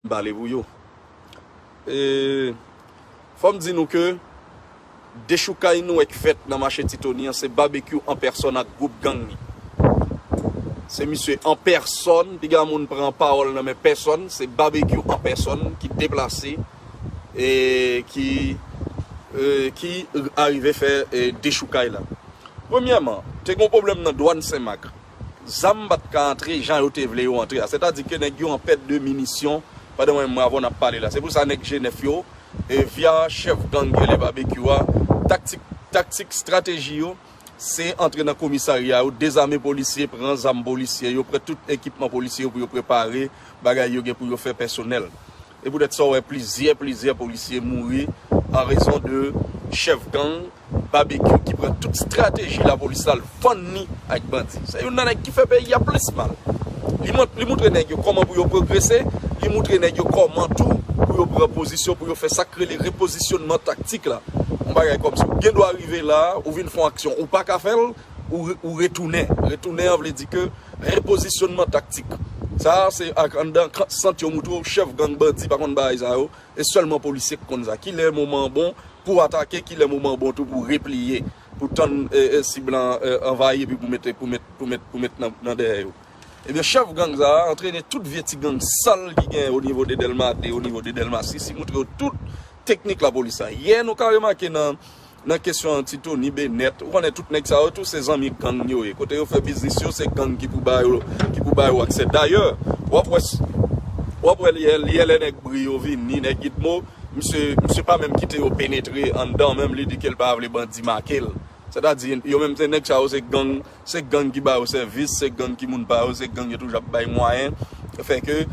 bale pou yo e fòm di nou ke dechoukay nou wè k fèt nan mache ti tony an se babekyou an pèsòn ak gwoup gang li se misye an pèsòn piga moun pran pawòl nan men pèsòn se babekyou an pèsòn ki deplase e ki e ki arive fè dechoukay la premyèman te gon pwoblèm nan dwàn senmak. zam pat ka antre jan yo te vle yo antre a. Sètadi ke nèg yo an pèt de minisyon pandan mwen menm avè w nap pale la. Se pou sa nèg Jenèf yo, via chèf gang Gèlè Babekyou a, taktik, taktik, estrateji yo, se antre nan komisarya yo, dezame polisye, pran zam polisye yo, pran tout ekipman polisye yo pou yo prepare bagay yo gen pou yo fè pèsonèl. E poutèt sa w wè plizyè plizyè polisye mouri an rezon de chèf gang Babekyou ki pran tout strateji lapolis la l vann ni ak bandi. Se youn nan nèg ki fè peyi a plis mal. Li moutre nèg yo kòman pou yo pwogrese, li moutre nèg yo kòman tou pou yo pran pozisyon, pou yo fè sa k rele repozisyonman taktik la. Yon bagay kòmsi w gen dwa rive la a, ou vin fè yon aksyon ou pa ka fè l, ou retounen. Retounen an vle di ke repozisyonman taktik. Sa a se ak anndan sant yo moutre w chèf gang bandi pa konn bagay sa yo, e sèlman polisye ki konn sa. Ki lè moman an bon pou atake, ki lè moman an bon tou pou repliye, pou tann sib lan anvayi epi pou mete pou mete pou mete pou mete nan dèyè yo. Ebyen chèf gang sa a antrene tout vye ti gang sal ki genyen o nivo de Dèlma 2, o nivo de Dèlma 6, li moutre yo tout teknik lapolis sa. Yè nou ka remake nan. Nan kesyon an ti tony benet ou konnen tout nèg sa yo tou se zanmi gang yo ye kote yo fè biznis yo se gang ki pou bayo ki pou bayo aksè dayè wap wè wap wè lè lè lè nèg bri yo vini nèg gitmo misye misye pa menm kite yo penetre anndan menm li di kel pa vle bandi makel sètadi yo menm se nèg sa yo se gang se gang ki ba yo sèvis, se gang ki moun pa yo, se gang yo toujou ap bay mwayen, fè ke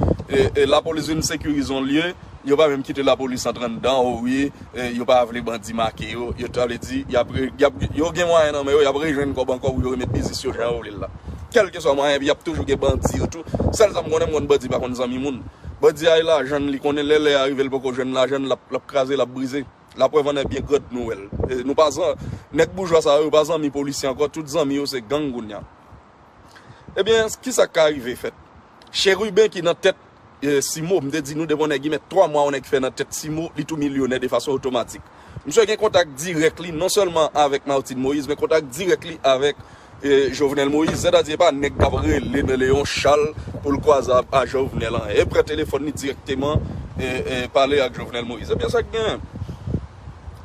lapolis vin sekirize yon lye, yo pa menm kite lapolis antre anndan, o wi, yo pa vle bandi make yo, yo ta vle di, yo gen mwayen nan men yo, y ap rejwenn kòb ankò pou yo remèt biznis yo jan yo vle l la. Kèlkeswa mwayen, epi y ap toujou gen bandi yo tou, sèl sa m konnen, m konn bandi pa konn zanmi moun. Bandi a gen lajan l, li konnen lè lè a rive l poko jwenn lajan l, l ap kraze, l ap brize. Laprèv an èbyen grand Noël. Nou pa zan, nèg boujwa sa yo, yo pa zanmi polisye ankò, tout zanmi yo se gang kounya. Ebyen, ki sa k ka rive fèt? Chérubin ki nan tèt Simo, m te di nou depi yon nèg gen mèt 3 mwa yon nèg fè nan tèt Simo, li tou milyonè de fason otomatik. Msye gen kontak dirèk li non sèlman avèk Martine Moïse men kontak dirèk li avèk. Jovenel Moïse sè ta di epa nèg kap rele nan Léon Charles poul kwaze avk a Jovenel an e pran telefòn li direkteman pale ak Jovenel Moïse ebyen sak gen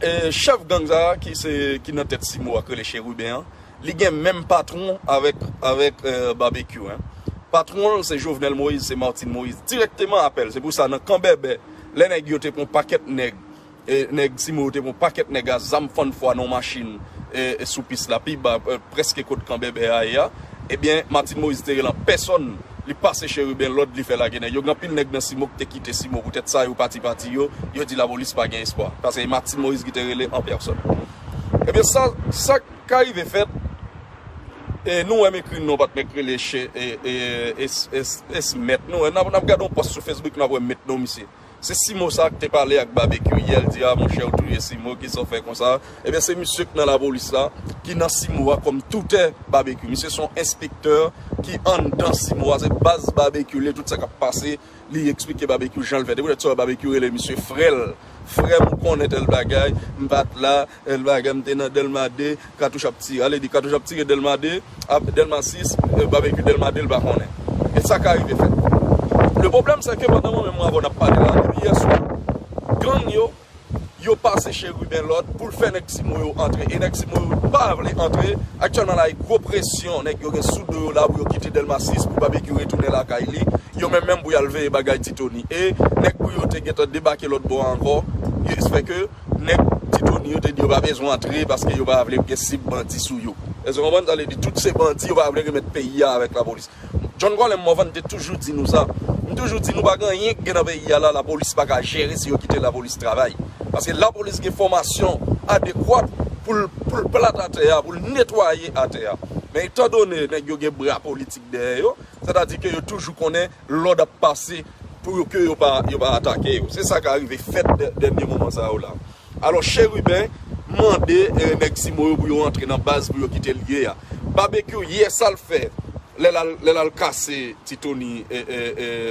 e chèf gang sa ki nan tèt simo a ki rele Chérubin an li gen menm patron avèk Babekyou hein patron l se Jovenel Moïse se Martine Moïse direkteman apèl se pou sa nan kan bèbè lè nèg yo te pran pakèt nèg E nèg Timo yo te pran yon pakèt nèg a zam fann fwa nan yon machin sou pis la pi ba prèske kot kan Bèbè a ye a. Ebyen Martine Moïse te rele an pèsòn, li pase Chérubin lòd li fè lage nèg yo. Gen anpil nèg nan Simo ki te kite Simo poutèt sa yo pati pati yo, yo di lapolis pa gen espwa. Paske e Martine Moïse ki te rele an pèsòn. Ebyen sa sa k ka rive fèt e nou wè m ekri non patnè k rele Che e e e Esmèt nou wè n ap gade yon pòs sou Facebook nou ap wè m met non misye. Si simo sa k te pale ak babekyou yè l di a monchè ou touye simo kisa w fè konsa ebyen se misye k nan lapolis la ki nan simo a kòm toutè babekyou misye son enspektè ki anndan simo a se baz babekyou l ye tout sa k ap pase li esplike babekyou jan l fè se poutèt sa babekyou rele misye frè l frè m ou konnen tèl bagay m pa t la. L bagay m te nan Dèlma 2 katouch ap tire ale di katouch ap tire Dèlma 2 ap Dèlma 6 babekyou Dèlma 2 l pa konnen e sa ka rive fèt le pwoblèm se ke pandan mwen menm avè w n ap pale la depi yè swa gang yo yo pase cheriben lòd pou l fè nèg simo yo antre e nèg simo yo pa vle antre aktyèlman la e gwo presyon nèg yo gen sou do yo la pou yo kite Dèlma 6 pou babekyou retounen lakay li yo menm menm pou y al veye bagay ti toni e nèg pou yo te gentan debake lòt bò a ankò e se fè ke. Nèg Titoni yo te di yo pa bezwen antre paske yo pa vle gen sib bandi sou yo. Èske w konprann sa vle di? Tout se bandi, yo pa vle remèt peyi a avèk lapolis. John Colem Morvan te toujou di nou sa. M toujou di nou pa gen anyen ki gen nan peyi a la lapolis pa ka jere si yo kite lapolis travay. Paske lapolis gen fòmasyon adekwat pou l pou l plat atè a, pou l netwaye atè a. Men etan done nèg yo gen bra politik dèyè yo, sètadi ke yo toujou konnen Lòd ap pase pou yo ke yo pa atake yo. Se sa ka rive fèt dènye moman sa yo la. Alò Chérubin mande nèg Cimo yo pou yo antre nan baz pou yo kite l ye a. Babekyou yè sa l fè lè l al kase Ti Tony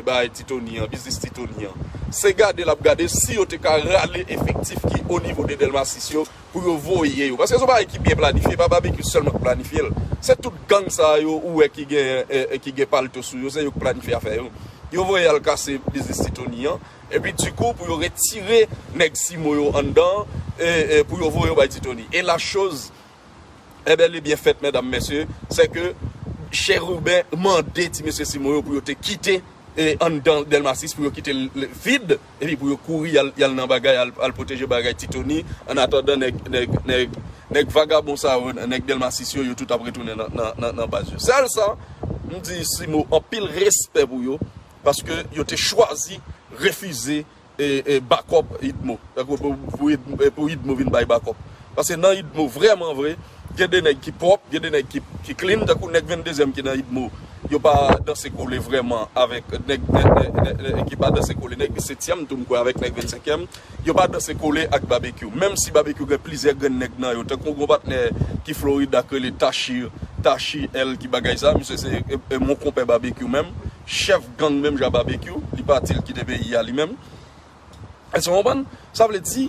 bagay Ti Tony an, biznis Ti Tony an. Se gade l ap gade si yo te ka rale efektif ki onivo de Dèlma 6 yo pou yo voye yo paske son bagay ki byen planifye pa babecue sèlman k planifyel se tout gang sa yo ou wè ki gen ki gen palto sou yo se yo k planifye afè yo yo voye al kase biznis ti tony an epi di kou pou yo retire nèg simo yo anndan e pou yo voye yo bay ti tony e la choz e bèl e byen fèt mèdam mèsye se ke chèrubin mande ti mesye simo yo pou yo te kite e anndan delma 6 pou yo kite l vid. Epi pou yo kouri yal nan bagay al pwoteje bagay ti tony an atandan nèg nèg vagabon sa yo nèg delma 6 yo yo tout ap retounen nan baz yo sèl sa m di simo anpil respè pou yo paske yo te chwazi refize bakòp idmo pou idmo vin bay bakòp. Paske nan Idmo vrèman vre gen de nèg ki pwòp, gen de nèg ki clean tankou nèg vendezyèm ki nan Idmo yo pa danse kole vrèman avèk nèg ki pa danse kole nèg disetyèm tou m kwè avèk nèg vennsenkyèm yo pa danse kole ak Babekyou menm si Babekyou gen plizyè grenn nèg nan yo tankou gon patnè ki Florida k rele Tashir Tashi L ki bagay sa misye se yon konpè Babekyou menm chèf gang menm jan Babekyou li pati l kite peyi a li menm. Èske w konprann? Sa vle di,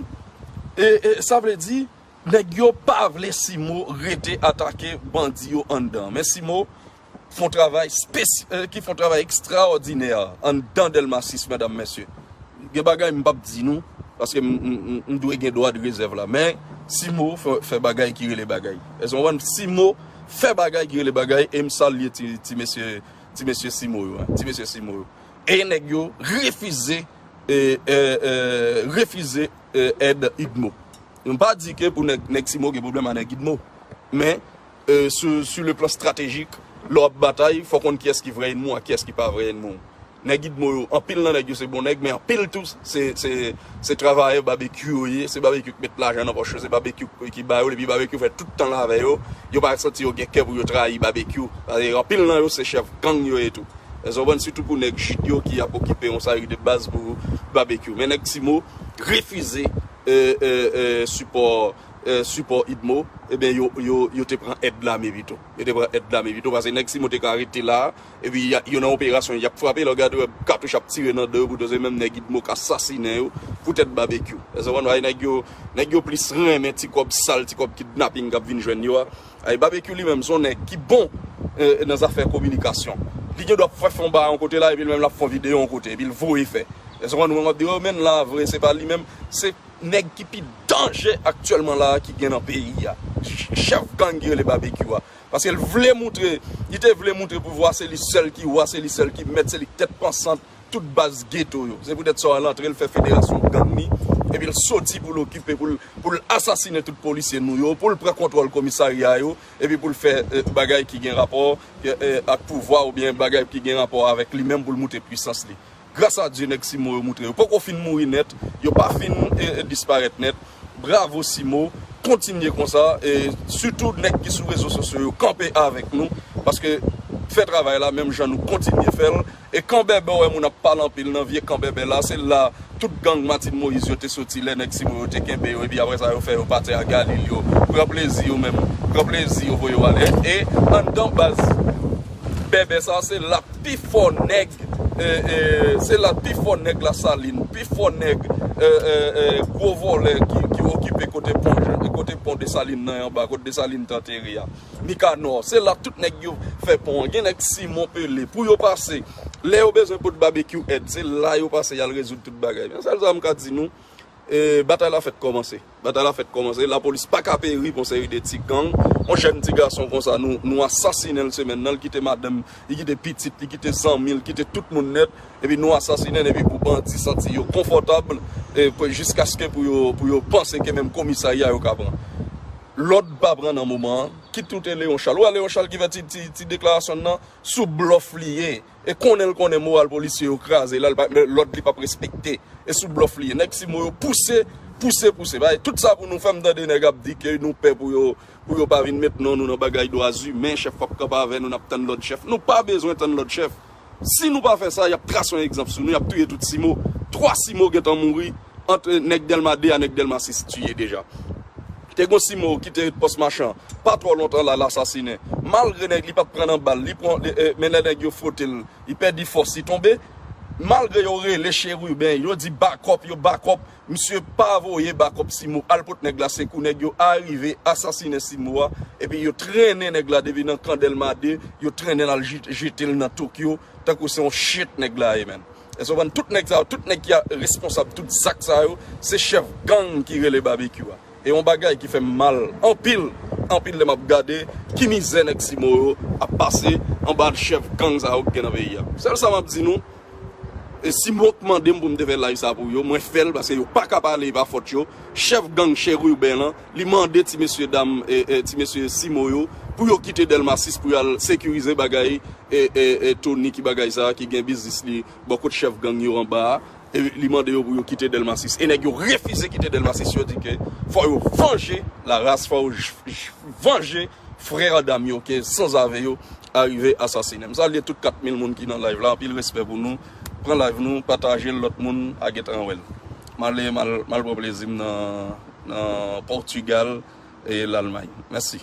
e, e, sa vle di, nèg yo pa vle Simo rete atake bandi yo anndan. Men Simo fon travay spesy, e, ki fon travay ekstraòdinè anndan Dèlma 6, medam, mesye. Gen bagay m pa p di nou, paske m, m, m, m dwe gen dwa de rezèv la. Men, Simo fè, fè bagay ki rele bagay. Èske w konprann? Simo fè bagay ki rele bagay e m salye ti, ti mesye, ti mesye Simo yo, hein, ti mesye Simo yo. E nèg yo refize refize èd udmo. M pa di ke pou nèg nèg Cimo gen pwoblèm a nèg udmo. Men su le plan stratejik lè w ap batay fò w konn kiyès ki vrè ènmi w ak kiyès ki pa vrè ènmi w. Nèg udmo yo anpil nan nèg yo se bon nèg men anpil tou se se. Se travayè babekyou yo ye, se babekyou ki met lajan nan pòch yo, se babekyou ki ba yo depi babekyou fè tout tan l avè yo, yo pa santi yo gen kè pou yo trayi babekyou paske anpil nan yo se chèf gang yo ye tou èske w konprann sitou pou nèg jid yo ki ap okipe yon seri de baz pou babekyou men nèg timo refize sipò sipò idmo ebyen yo te pran èd lame pito yo te pran èd lame pito paske nèg timo te ka rete la Epi yo nan operasyon yap frape lè w gade wè katouch ap tire nan dan yo poutan se menm nèg udmo ka sasinen yo pou tèt babekyou èske w konprann ayy nèg yo nèg yo plis renmen ti kòb sal ti kòb kidnaping kap vin jwenn yo a ayy babekyou li menm son nèg ki bon nan zafè kominikasyon li gen dwa ap fè fon bagay yon kote la epi li menm lap fon videyo yon kote epi l voye fè èske w konprann mwen wap di yo menn la vre se pa li menm se nèg ki pi danje aktyèlman la ki gen nan peyi a chèf gang ki rele babekyou a. Paske l vle moutre, li te vle moutre pouvwa se li sèl ki wa, se li sèl ki mèt, se li ki tèt pansant tout baz geto yo. Se poutèt sa an l antre, l fè federasyon gang li, epi l soti pou l okipe, pou l asasinen tout polisye nou yo, pou l pran kontwòl komisarya yo, epi pou l fè bagay ki gen rapò ak pouvwa oubyen bagay ki gen rapò avèk li menm pou l moutre pwisans li. Gras a Dye nèg Simo yo moutre yo poko fin mouri nèt, yo pa fin disparèt nèt, bravo Simo, kontinye konsa, e sitou nèg ki sou rezo sosyo yo kanpe avèk nou, paske fè travay la menm jan nou kontinye fèl, e kanbèbè ou wè moun ap pale anpil nan vye kanbèbè la, se la tout gang Martine Moïse yo te soti lè nèg Simo yo te kenbe yo epi aprè sa yo fè yo pati a galil yo pran plezi yo menm pran plezi yo voye yo ale e anndan baz Bèbè sa se la pi fò nèg se la pi fò nèg la salin pi fò nèg gwo vòlè ki okipe kote pon jan kote pon de salin nan anba kote de salin te antere a mikanò se la tout nèg yo fè pon an gen nèg simon pele pou yo pase lè yo bezwen pot babekyou èd se la yo pase yal rezoud tout bagay men sèl sa m ka di nou batay la fèk kòmanse. Batay la fèt kòmanse, lapolis paka peri pou seri de ti gang, yon jèn ti gason konsa nou asasinenl semèn nan, li kite madanm, li kite pitit, li kite zanmil, li kite tout moun nèt, epi nou asasinenl epi pou bandi santi yo konfòtab jiskaske pou yo panse ke menm komisarya yo ka pran lòd pa pran nan moman an, kit ou te Leon Charles, ou wè Leon Charles ki fè ti deklarasyonl nan, sou blòf li ye. E konnen l konnen moral polisye yo kraze la, lòd li pap respekte. E sou blòf li ye. Nèg Simo yo pouse, pouse, pouse. Bay tout sa pou nou fè, m tande nèg ap di ke nou pè pou yo, pou yo pa vin met non nou nan bagay dwa zimen, chèf pap kanpe avè nou, n ap tann lòd chèf. Nou pa bezwen tann lòd chèf. Si nou pa fè sa, y ap trase yon egzanp sou nou, y ap touye tout Simo. Twa Simo gentan mouri ant nèg Dèlma 2 a nèg Dèlma 6 tiye deja. Te gon Simo ki te ret pòs machan pa twò lontan la lasasinen malgre nèg li pat pran nan bal li pran men lè nèg yo fwote l li pèdi fòs li tonbe malgre yo rele cheriben yo di bakòp yo bakòp misye pa voye bakòp Simo al pot nèg la se kou nèg yo arive asasinen Simo a epi yo trennen nèg la depi nan kan Dèlma 2 yo trennen l al jete l nan Tokyo tankou se yon chet nèg la ye menn. Èske ou konprann tout nèg sa yo, tout nèg ki a responsab tout zak sa yo, se chèf gang ki rele Babekyou a. E yon bagay ki fè m mal anpil, anpil lè m ap gade ki mizè nèg Simo yo ap pase anba chèf gang sa yo ki gen nan peyi a. Sèl sa m ap di nou, e Simo ki mande m pou m te fè live sa pou yo, mwen fè l paske yo pa ka pale e pa fòt yo, chèf gang Cheriuben an, Li mande ti mesye dam ti mesye Simo yo pou yo kite Dèlma 6 pou yal sekirize bagay Tony ki bagay sa ki gen biznis li bò kot chèf gang yo anba a li mande yo pou yo kite Dèlma 6 e nèg yo refize kite Dèlma 6 yo di ke fò yo vanje la ras fò yo vanje Frère dam yo ke sanzave yo arive asasinem. Salye tout 4 mil moun ki nan live la anpil respè pou nou pran live nou patajel lòt moun a gentan wèl. Male mal pran plezim nan Portugal e Lalmay. Mèsi.